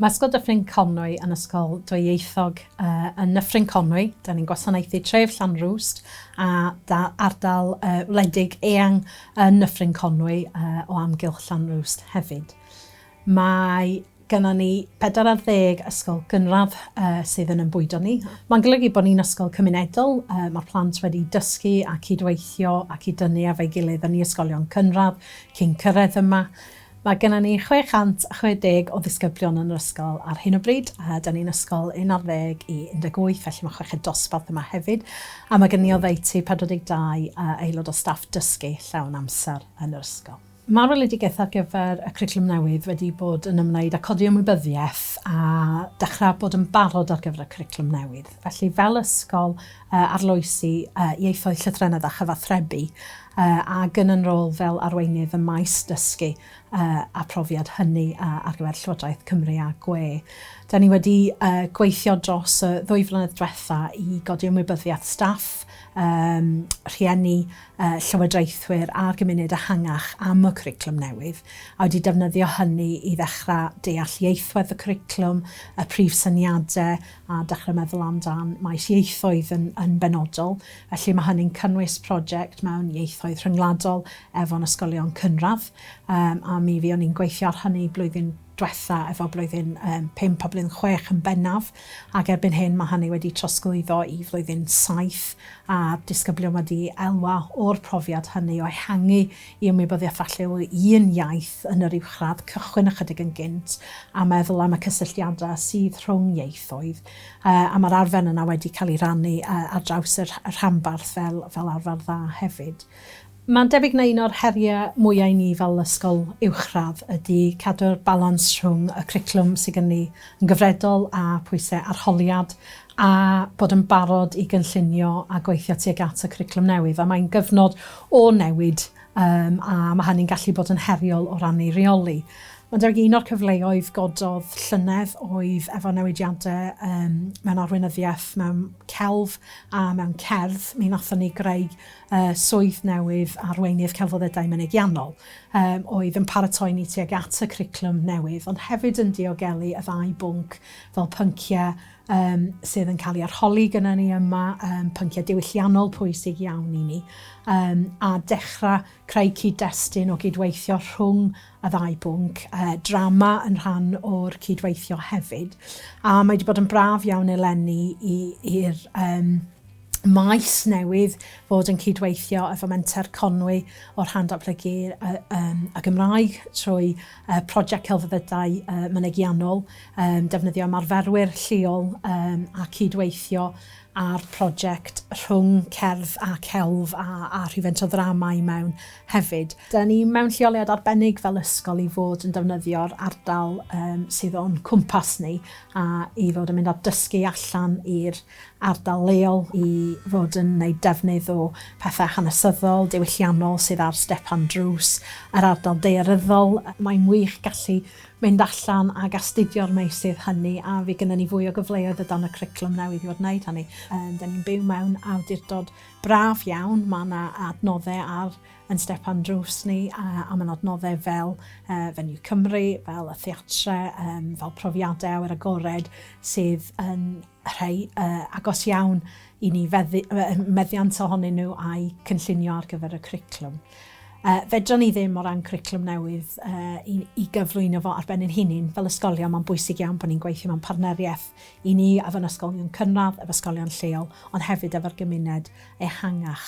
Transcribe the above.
Masgo Dyffryn Conwy yn Ysgol Dwyieithog yn Nyffryn Conwy. Da ni'n gwasanaethu tref Llanrwst a da- ardal yy wledig eang yn Nyffryn Conwy yy o amgylch Llanrwst hefyd. Mae gynnon ni bedwar ar ddeg ysgol gynradd yy sydd yn 'yn bwydo ni. Ma'n golygu bo' ni'n ysgol cymunedol, yy ma'r plant wedi dysgu a cyd-weithio a cyd-dynnu efo'i gilydd yn i ysgolion cynradd cyn cyrredd yma. Mae gennym ni 660 o ddisgyblion yn yr ysgol ar hyn o bryd, a 'da ni'n ysgol un ar ddeg i 18, felly mae chweched dosbarth yma hefyd, a mae gennym ni oddeutu 42 aelod o staff dysgu llawn amser yn yr ysgol. Mae'r weledigaeth ar gyfer y cwricwlwm newydd wedi bod yn ymwneud â codi ymwybyddiaeth a dechrau bod yn barod ar gyfer y cwricwlwm newydd. Felly, fel ysgol, arloesi ieithoedd, llythrennedd a chyfathrebu, ac yn yn rôl fel Arweinydd ym maes Dysgu a Phrofiad, hynny ar gyfer Llywodraeth Cymru a gwe. Da ni wedi gweithio dros y ddwy flynedd dwetha i godi ymwybyddiaeth staff, rhieni, llywodraethwyr a'r gymuned ehangach am y cwricwlwm newydd, a wedi defnyddio hynny i ddechrau deall ieithwedd y cwricwlwm, y prif syniadau, a dechrau meddwl amdan maes ieithoedd yn benodol. Felly mae hynny'n cynnwys project mewn ieithoedd rhyngwladol efo'n ysgolion cynradd, yym a mi fuon ni'n gweithio ar hynny blwyddyn dwetha efo blwyddyn yym pump a blwyddyn chwech yn bennaf, ac erbyn hyn mae hynny wedi trosglwyddo i flwyddyn saith, a'r disgyblion wedi elwa o'r profiad hynny o ehangu i ymwybyddiaeth falle o un iaith yn yr uwchradd cychwyn ychydig yn gynt a meddwl am y cysylltiadau sydd rhwng ieithoedd. A mae'r arfer yna wedi cael ei rannu ar draws y rhanbarth fel arfer dda hefyd. Mae'n debyg na un o'r heriau mwyaf i ni fel ysgol uwchradd ydy cadw'r balans rhwng y cwricwlwm sydd gen ni yn gyfredol a phwysau arholiad a bod yn barod i gynllunio a gweithio tuag at y cwricwlwm newydd. A mae'n gyfnod o newid um, a mae hynny'n gallu bod yn heriol o ran ei reoli. Ond ar un o'r cyfleoedd gododd llynedd oedd efo newidiadau um, mewn arweinyddiaeth, mewn celf a mewn cerdd. Mi nathon ni greu uh, swydd newydd arweinydd celfoddedau mynegiannol um, oedd yn paratoi ni tuag at y criclwm newydd, ond hefyd yn diogelu y ddau bwnc fel pynciau um, sydd yn cael ei arholi gyda ni yma, um, pynciau diwylliannol pwysig iawn i ni, um, a dechrau creu cyd-destun o gydweithio rhwng y ddau bwnc, uh, drama yn rhan o'r cydweithio hefyd. A mae wedi bod yn braf iawn eleni i'r um, maes newydd fod yn cydweithio efo Menter Conwy o'r Rhan Datblygu y Gymraeg trwy Prosiect Celfyddydau Mynegiannol, defnyddio ymarferwyr lleol a cydweithio ar prosiect rhwng cerdd a celf a rhywfaint o ddrama i mewn hefyd. Dan ni mewn lleoliad arbennig fel ysgol i fod yn defnyddio'r ardal sydd o'n cwmpas ni a i fod yn mynd a dysgu allan i'r ardal leol i fod yn wneud defnydd o pethau hanesyddol, diwylliannol sydd ar stepan drws yr ardal daearyddol. Mae'n wych gallu mynd allan ac astudio'r meysydd hynny a fydd gynnon ni fwy o gyfleoedd o dan y cwricwlwm newydd i fod yn wneud hynny. Dan ni'n byw mewn awdurdod braf iawn, mae yna adnoddau ar ein stepan drws ni a mae'n adnoddau fel Venue Cymru, fel y theatrau, fel profiadau awyr agored sydd yn rhai agos iawn i ni, meddiant ohonyn nhw a'u cynllunio ar gyfer y cwricwlwm. Fedrwn ni ddim, o ran cwricwlwm newydd, i gyflwyno fo ar ben ein hunain fel ysgolion. Mae'n bwysig iawn bod ni'n gweithio mewn partneriaeth i ni efo ein ysgolion cynradd, efo ysgolion lleol, ond hefyd efo'r gymuned ehangach.